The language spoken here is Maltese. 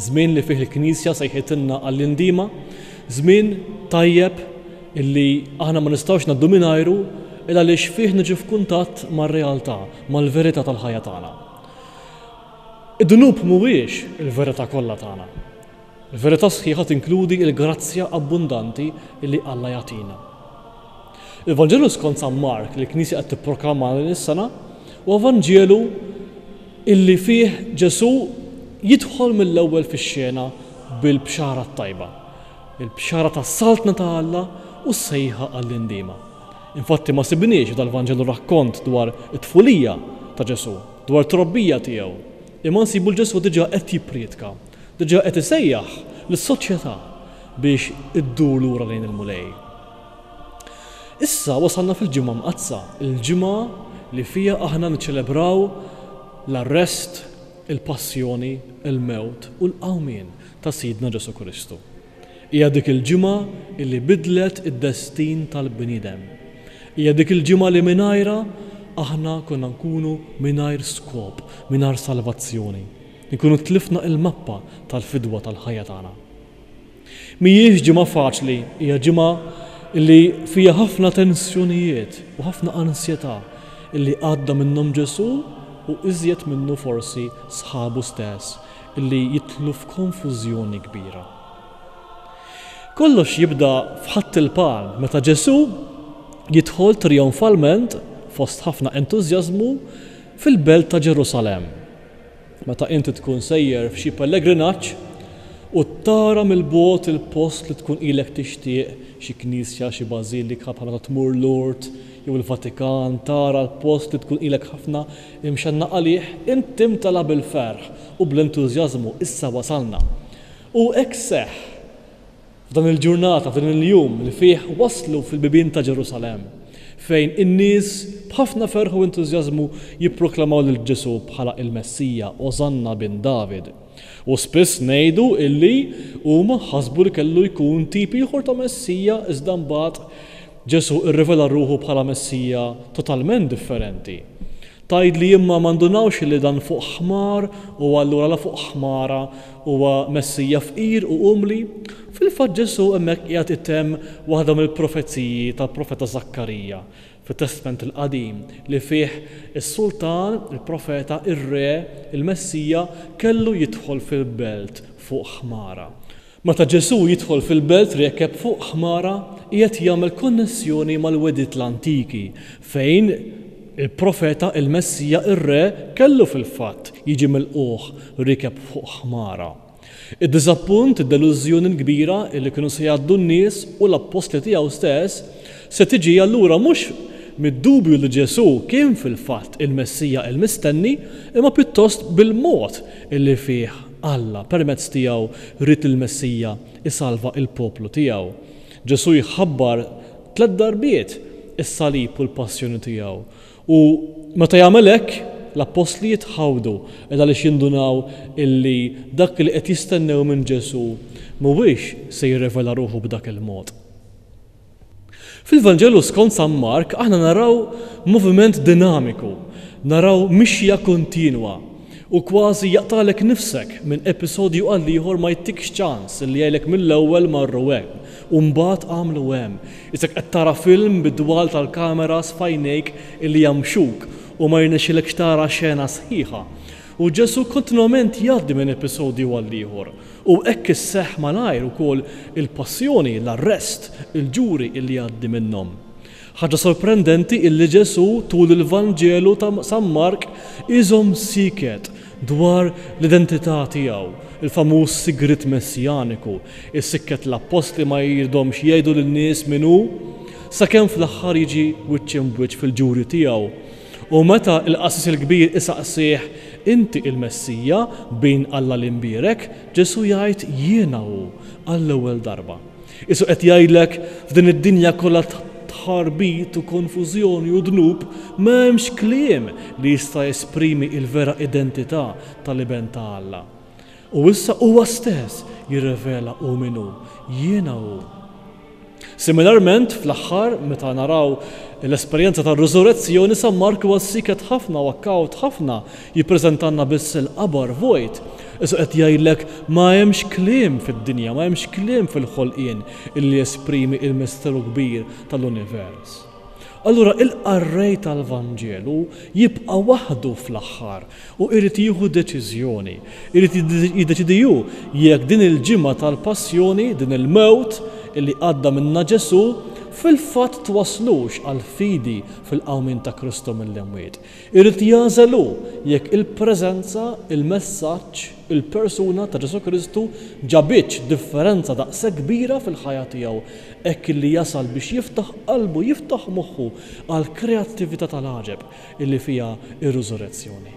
Żmien li fih il-Knisja sejħitilna għall-indiema, żmien tajjeb li aħna ma nistgħux ngħaddu mingħajru il għaliex fih niġu f'kuntatt mar-realtà, mal-verità tal-ħajja tagħna. Id-dnub mhuwiex il-verità kollha tagħna. Il-verità sħiħa tinkludi l-grazzja abbundanti li Alla jagħtina. Il-Vanġelu skont San Mark li l-Knisja qed tipproklama din is-sena huwa Vanġelu illi fih Ġesù jidħol mill-ewwel fix-xena bil-Bxara t-Tajba, il-Bxara tas-Saltna ta' Alla u s-sejħa għall-indiema. Infatti ma sibniex f'dal-Vanġelu rakkont dwar it-tfulija ta' Ġesù, dwar it-trobbija tiegħu, imma nsibu 'l Ġesù diġà qed jipprietka, diġà qed isejjaħ lis-soċjetà biex iddur lura lejn il-Mulej. Issa wasalna fil-Ġimgħa Mqaddsa, il-ġimgħa li fiha aħna niċċelebraw l-arrest, il-passjoni, il-mewt u l-qawmien ta' Sidna Ġesù Kristu. Hija dik il-ġimgħa li bidlet id-destin tal-bniedem. Hija dik il-ġimgħa li mingħajrha aħna konna nkunu mingħajr skop, mingħajr salvazzjoni. Inkunu tlifna l-mappa tal-fidwa tal-ħajja tagħna. Mhijiex ġimgħa faċli, hija ġimgħa li fiha ħafna tensjonijiet u ħafna ansjetà li għadda minnhom Ġesù u iżjed minnu forsi sħabu stess li jidħlu f'konfużjoni kbira. Kollox jibda f'Ħadd il-Palm meta Ġesù jidħol trijonfalment fost ħafna entużjażmu fil-belt ta' Ġerusalemm. Meta inti tkun sejjer f'xi pellegrinaġġ u tara mill-bogħod il-post li tkun ilek tixtieq, xi knisja, xi bażilika, bħal meta tmur Lourdes jew il-Vatikan, tara l-post li tkun ilek ħafna imxennaq għalih, int timtela bil-ferħ u bl-entużjażmu, issa wasalna! U hekk seħħ! F'dan il-ġurnata, f'dan il-jum li fih waslu fil-bibien ta' Ġerusalemm, fejn in-nies b'ħafna ferħ u entużjażmu jipproklamaw lil Ġesù bħala il-Messija, Osanna bin David. U spiss ngħidu illi huma ħasbu li kellu jkun tip ieħor ta' Messija iżda mbagħad Ġesù rrivela ruħu bħala Messija totalment differenti. Tgħidli imma ma ndunawx illi dan fuq ħmar u allura la fuq ħmara Huwa Messija fqir u umli. Fil-fatt Ġesù hemmhekk qiegħed itemm waħda mill-profeziji tal-profeta Żakkarija fit-Testment il-Qadim li fih is-sultan, il-profeta, ir-re, il-Messija, kellu jidħol fil-belt fuq ħmara. Meta Ġesù jidħol fil-belt riekeb fuq ħmara qiegħed jagħmel konnessjoni mal-wegħdiet l-antiki fejn Il-Profeta, il-Messija, ir-Re, kellu fil-fatt jiġi milqugħ riekeb fuq ħmara. Id-diżappunt, id-delużjoni l-kbira li kienu se jgħaddu n-nies u l-appostli tiegħu stess se tiġi allura mhux mid-dubju li Ġesù kien fil-fatt il-Messija l-mistenni imma pjuttost bil-mod li fih Alla permezz tiegħu ried lill-Messija jsalva l-poplu tiegħu. Ġesù jħabbar Tliet darbiet is-salib u l-passjoni tiegħu. U meta jagħmel hekk, l-appostli jitħawdu ed għaliex jindunaw illi dak li qed jistennew minn Ġesù mhuwiex se jirrevela ruħu b'dak il-mod. Fil-Vanġelu skont San Mark aħna naraw moviment dinamiku, naraw mixja kontinwa u kważi jaqtagħlek nifsek minn episodju għall-ieħor ma jittikx ċans illi jgħidlek mill-ewwel marru hemm, U mbagħad għamlu hemm. Isek qed tara film bid-dwal tal-kameras f'għajnejk li jamxuk u ma jirnexxilekx tara xena sħiħa. U Ġesù kontinwament jgħaddi minn episodju għal ieħor. U hekk isseħħ malajr ukoll il-Passjoni, l-Arrest, il-Ġuri li jgħaddi minnhom. Ħaġa sorprendenti illi Ġesù tul il-Vanġelu ta' San Mark iżomm sieket dwar l-identità tiegħu, il-famuż sigriet messjaniku, isikket l-appostli ma jridhomx jgħidu lin-nies min hu, sakemm fl-aħħar jiġi wiċċ imb'wiċċ fil-ġuri tiegħu. U meta l-qassis il-kbir isaqsih, Inti il-Messija, Bin Alla l-Imbierek? Ġesù jgħid, Jiena hu, għall-ewwel darba. Qisu qed jgħidlek, f'din id-dinja kollha ta' tħarbit u konfużjoni u dnub, m'hemmx kliem li jista' jesprimi il-vera identità tal-Iben ta' Alla. U issa huwa stess jirrivela hu min hu, Jiena hu. Similarment, fl-aħħar, meta naraw l-esperjenza tar-riżurezzjoni, San Mark huwa siket ħafna u kawt ħafna Jippreżentalna biss il-qabar vojt. Isu qed jgħidlek ma hemmx kliem fid-dinja, ma hemmx kliem fil-ħolqien illi jesprimi il-misteru kbir tal-univers. Allura il-qarrej tal-Vanġelu jibqa' waħdu fl-aħħar u irid jieħu deċiżjoni, irid jiddeċiedi hu jekk din il-ġimgħa tal-Passjoni, din il-mewt illi għadda minnha Ġesù, fil-fatt twasslux għall-fidi fil-qawmien ta' Kristu mill-imwiet. Irid jagħżel hu jekk il-preżenza, il-messaġġ, il-persuna ta' Ġesù Kristu ġabitx differenza daqshekk kbira fil-ħajja tiegħu hekk illi jasal biex jiftaħ qalbu, jiftaħ moħħu għall-kreattività tal-għaġeb illi fiha r-Riżurezzjoni.